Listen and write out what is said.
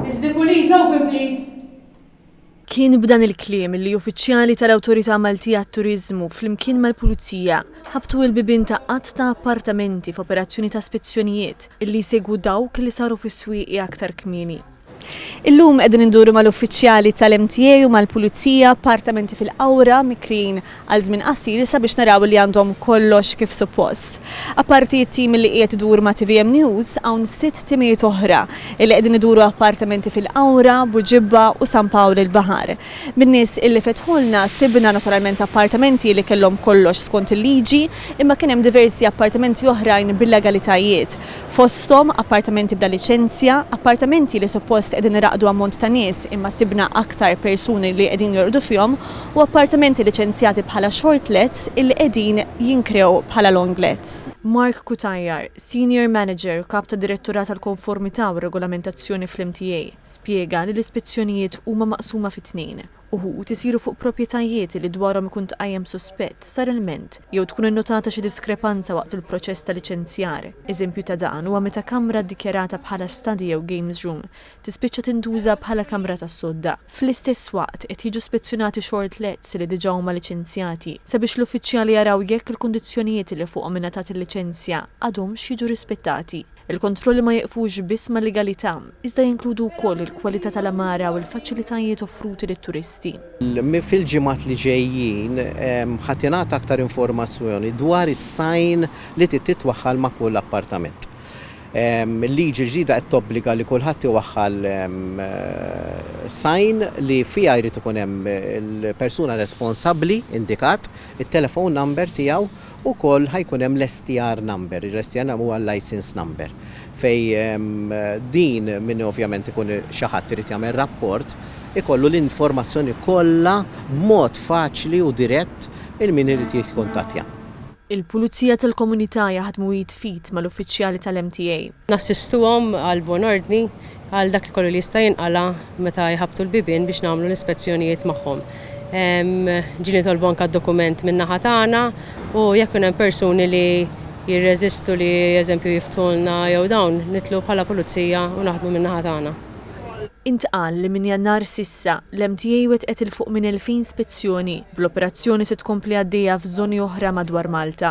Is the police open please? Kien b'dan il-kliem li uffiċjali tal-Awtorità Maltija għat-Turiżmu flimkien mal-Pulizija ħabtu l-bibien ta' għadd ta' appartamenti f'operazzjoni ta' spezzjonijiet li jsegwu dawk li saru fis-Swieqi aktar kmieni. Illum qegħdin induru mal-uffiċjali tal-MTA u mal-Pulizija appartamenti fil-Qawra, Mikrin, għal żmien qasir sabiex naraw li għandhom kollox kif suppost. Apparti t-tim li qiegħed idur ma' tvm News, hawn sitt timijiet oħra li qegħdin iduru appartamenti fil-Qawra, Buġibba u San Pawl il-Baħar. Min-nies li fetħulna sibna naturalment appartamenti li kellhom kollox skont il-liġi imma kien hemm diversi appartamenti oħrajn b'illegalitajiet, fosthom appartamenti bla liċenzja, appartamenti li suppost qegħdin iraqdu ammont ta' nies imma sibna aktar persuni li qegħdin jorqdu fihom u appartamenti liċenzjati bħala shortlets illi qegħdin jinkrew bħala longlets. Mark Cutajar, Senior Manager u Kap tad-Direttorat għall-Konformità u r-Regolamentazzjoni fl-MTA, spjega li l-ispezzjonijiet huma maqsuma fi tnejn, uħud isiru fuq proprjetajiet illi dwarhom ikun tqajjem suspett, sar ilment, jew tkun innotata xi diskrepanza waqt il-proċess ta' liċenzjar. Eżempju ta' dan huwa meta kamra ddikjarata bħala study jew games room tispiċċa tintuża bħala kamra tas-sodda. Fl-istess waqt, qed jiġu spezzjonati short lets li diġà huma liċenzjati, sabiex l-uffiċjali jaraw jekk il-kundizzjonijiet li fuqhom ingħatat il-liċenzja għadhomx jiġu rispettati. Il-kontrolli ma jiqfux biss mal-legalità, iżda jinkludu wkoll il-kwalità tal-għamara u l-faċilitajiet offruti lit-turisti. Fil-ġimgħat li ġejjin ħa tingħata aktar informazzjoni dwar is-sign li trid titwaħħal ma' kull appartament. Il-liġi l-ġdida qed tobbliga li kulħadd iwaħħal sign li fiha jrid ikun hemm il-persuna responsabbli indikat, it-telephone number tiegħu, ukoll ħa jkun hemm l-STR number, l-STR number huwa l-licence number, fejn din min ovvjament ikun xi ħadd irid jagħmel rapport ikollu l-informazzjoni kollha b'mod faċli u dirett il-min irid jikkuntattja. Il-Pulizija tal-Komunità jaħdmu id f'id mal-uffiċjali tal-MTA. Nassistuhom għal buon ordni għal dak kollu li jista' jinqala' meta jħabbtu l-bibien biex nagħmlu l-ispezzjonijiet magħhom. Ġieli nitolbu anke d-dokument min-naħa tagħna u jekk ikun hemm persuni li jirreżistu li eżempju jiftħulna jew dawn nitlu bħala pulizija u naħdmu min-naħa tagħna. Intqal li minn Jannar s'issa, l-MTA wettqet 'il fuq minn elfin spezzjoni, bl-operazzjoni se tkompli għaddejja f'żoni oħra madwar Malta.